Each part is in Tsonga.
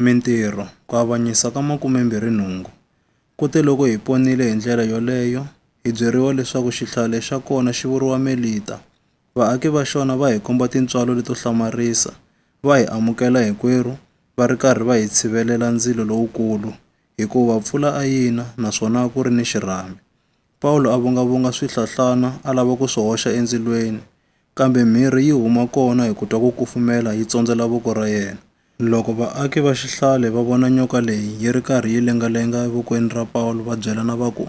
Mintirho, ku avanyisa ka makume-mbirhi-nhungu. Kuteloko hi ponile hi ndlela yoleyo, hi byeriwa leswaku xihlale xa kona xi vuriwa Melita. Vaaki va xona va hi komba tintswalo leto hlamarisa, va hi amukela hikwerhu, va ri karhi va hi tshivelela ndzilo lowukulu, hikuva pfula a yi na naswona a ku ri ni xirhami. Pawulo a vungavunga swihlohlana a lava ku swi hoxa endzilweni, kambe mhirhi yi huma kona hi ku twa ku kufumela yi tsondzela voko ra yena. Loko vaaki va xihlale va vona nyoka leyi yi ri karhi yi lengalenga evokweni ra Pawulo va byelana va ku,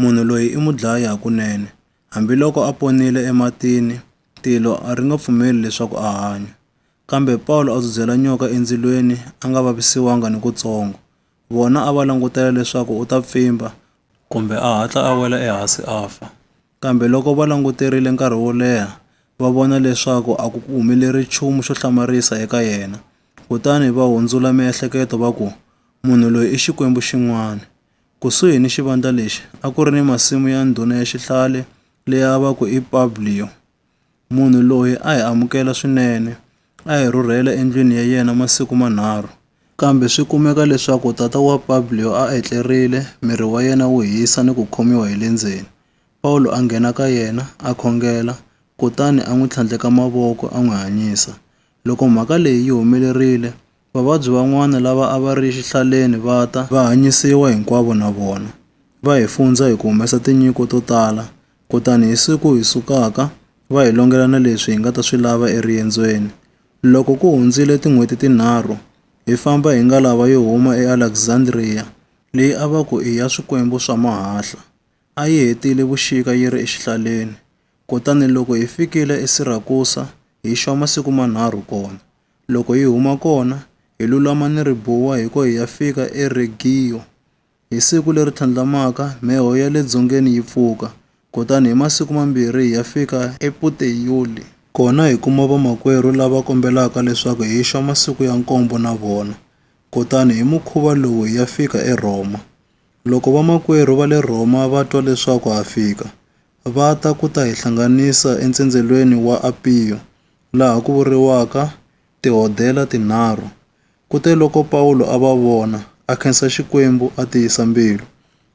Munhu loyi i mudlayi hakunene. Hambiloko a ponile ematini, tilo a ri nga pfumeli leswaku a hanya. Kambe Pawulo a dzudzela nyoka endzilweni a nga vavisiwanga nikutsongo. Vona a va langutele leswaku u ta pfimba kumbe a hatla a wela ehansi a fa. Kambe loko va languterile nkarhi wo leha, va vona leswaku a ku humeleli nchumu xo hlamarisa eka yena. Kutani va hundzula miehleketo va ku, Munhu loyi i xikwembu xin'wana. Kusuhi ni xivandla lexi a ku ri ni masimu ya ndhuna ya xihlale leyi a va ku i Publio. Munhu loyi a hi amukela swinene, a hi rhurhela endlwini ya yena masiku manharhu. Kambe swi kumeka leswaku tata wa Publio a etlerile, miri wa yena wu hisa ni ku khomiwa hi le ndzeni. Pawulo a nghena ka yena, a khongela, kutani a n'wi tlhandleka mavoko a n'wi hanyisa. Loko mhaka leyi yi humelerile, Vavabyi van'wana lava a va ri exihlaleni va ta, va hanyisiwa hinkwavo na vona, va hi fundzha hi ku humesa tinyiko to tala, kutani hi siku hi sukaka, va hi longela na leswi hi nga ta swi lava eriendzweni. Loko ku hundzile tin'hweti tinharhu, hi famba hi ngalava yo huma eAlexandria, leyi a va ku i ya swikwembu swa mahahla, a yi hetile vuxika yi ri exihlaleni, kutani loko hi fikile eSirakusa, hi xwa masiku manharhu kona. Loko hi huma kona, hi lulama ni ribuwa hiko hi ya fika eRegiyo. Hi siku leri tlhandlamaka, mheho ya le dzongeni yi pfuka, kutani hi masiku mambirhi hi ya fika ePuteyoli. Kona hi kuma vamakwerhu lava kombelaka leswaku hi xa masiku ya nkombo na vona, kutani hi mukhuva lowu hi ya fika eRhoma. Loko vamakwerhu va le Rhoma va twa leswaku ha fika, va ta ku ta hi hlanganisa entsendzelweni wa Apiyo, laha ku vuriwaka tihodela tinharhu. Kuteloko Pawulo a va vona, a khensa Xikwembu a tiyisa mbilu.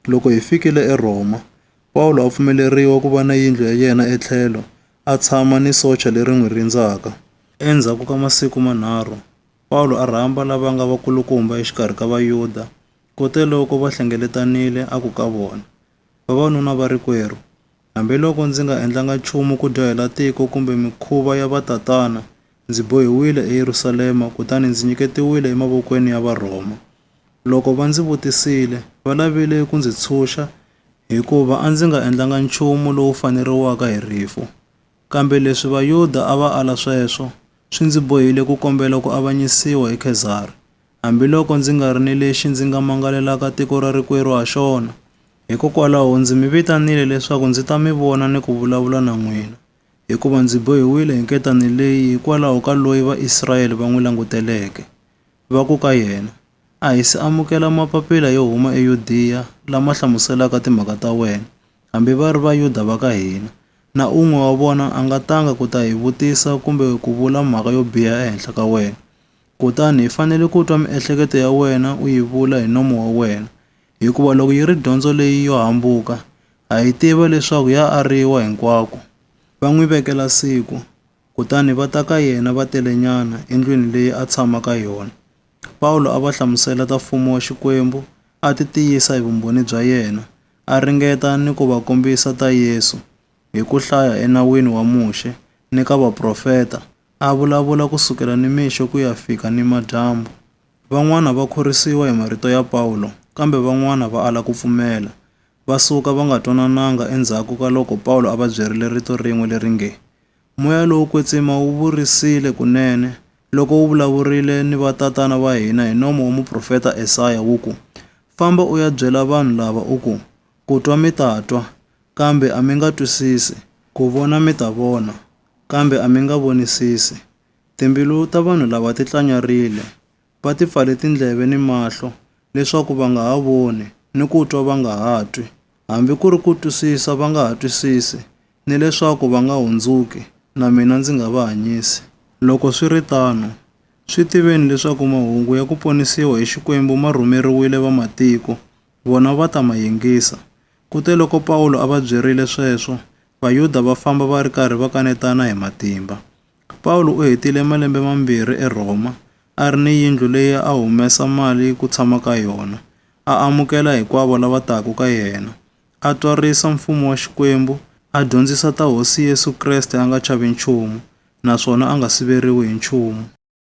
Loko hi fikile eRhoma, Pawulo a pfumeleriwa ku va na yindlu ya yena etlhelo, a tshama ni socha leri n'wi rindzaka. Endzhaku ka masiku manharhu, Pawulo a rhamba lava nga vakulukumba exikarhi ka Vayuda. Kuteloko va hlengeletanile, a ku ka vona, Vavanuna va rikwerhu, Hambiloko ndzi nga endlanga nchumu ku dyohela tiko kumbe mikhuva ya vatatana, ndzi bohiwile eYerusalema kutani ndzi nyiketiwile emavokweni ya Varhoma. Loko va ndzi vutisile, va lavile ku ndzi tshunxa hikuva a ndzi nga endlanga nchumu lowu faneriwaka hi rifu. Kambe leswi Vayuda a va ala sweswo swi ndzi bohile ku kombela ku avanyisiwa hi Khezari, hambiloko ndzi nga ri ni lexi ndzi nga mangalelaka tiko ra rikwerhu ha xona. Hikokwalaho ndzi mi vitanile leswaku ndzi ta mi vona ni ku vulavula na n'wina, hikuva ndzi bohiwile hi nketani leyi hikwalaho ka loyi Vaisrayele va n'wi languteleke, va ku ka yena, A hi si amukela mapapila yo huma eYudiya lama hlamuselaka timhaka ta wena, hambi va ri Vayuda va ka hina. Na un'we wa vona a nga tanga ku ta hi vutisa kumbe ku vula mhaka yo biha ehenhla ka wena. Kutani hi fanele ku twa miehleketo ya wena u yi vula hi nomo wa wena, hikuva loko yi ri dyondzo leyi yo hambuka, ha yi tiva leswaku ya ariwa hinkwako. Va n'wi vekela siku. kutani va ta ka yena va telenyana endlwini leyi a tshama ka yona. Pawulo a va hlamusela ta Mfumo wa Xikwembu, a titiyisa hi vumbhoni bya yena, a ringeta ni ku va kombisa ta Yesu hi ku hlaya eNawini wa Muxe ni ka vaprofeta, a vulavula ku sukela nimixo ku ya fika nimadyambu. Van'wana va khorwisiwa hi marito ya Pawulo, kambe van'wana va ala ku pfumela. Va suka va nga twanananga endzhaku ka loko Pawulo a va byerile rito rin'we leri nge, Moya lowo kwetsima wu vurisile kunene loko wu vulavurile ni vatatana va hina hi nomo wa muprofeta Esaya wu ku, Famba u ya byela vanhu lava u ku, Ku twa mi ta twa, kambe a mi nga twisisi, ku vona mi ta vona, kambe a mi nga vonisisi. Timbilu ta vanhu lava ti tlanyarile, va ti pfale tindleve ni mahlo leswaku va nga ha voni, ni ku twa va nga ha twi, hambi ku ri ku twisisa va nga ha twisisi, ni leswaku va nga hundzuki, na mina ndzi nga va hanyisi. Loko swi ri tano, swi tiveni leswaku mahungu ya ku ponisiwa hi Xikwembu ma rhumeriwile vamatiko, vona va ta ma yingisa. Kuteloko Pawulo a va byerile sweswo, Vayuda va famba va ri karhi va kanetana hi matimba. Pawulo u hetile malembe mambirhi eRhoma a ri ni yindlu leyi a humesa mali ku tshama ka yona, a amukela hinkwavo lava taka ka yena, a twarisa Mfumo wa Xikwembu, a dyondzisa ta Hosi Yesu Kreste a nga chavi nchumu naswona a nga siveriwi hi nchumu.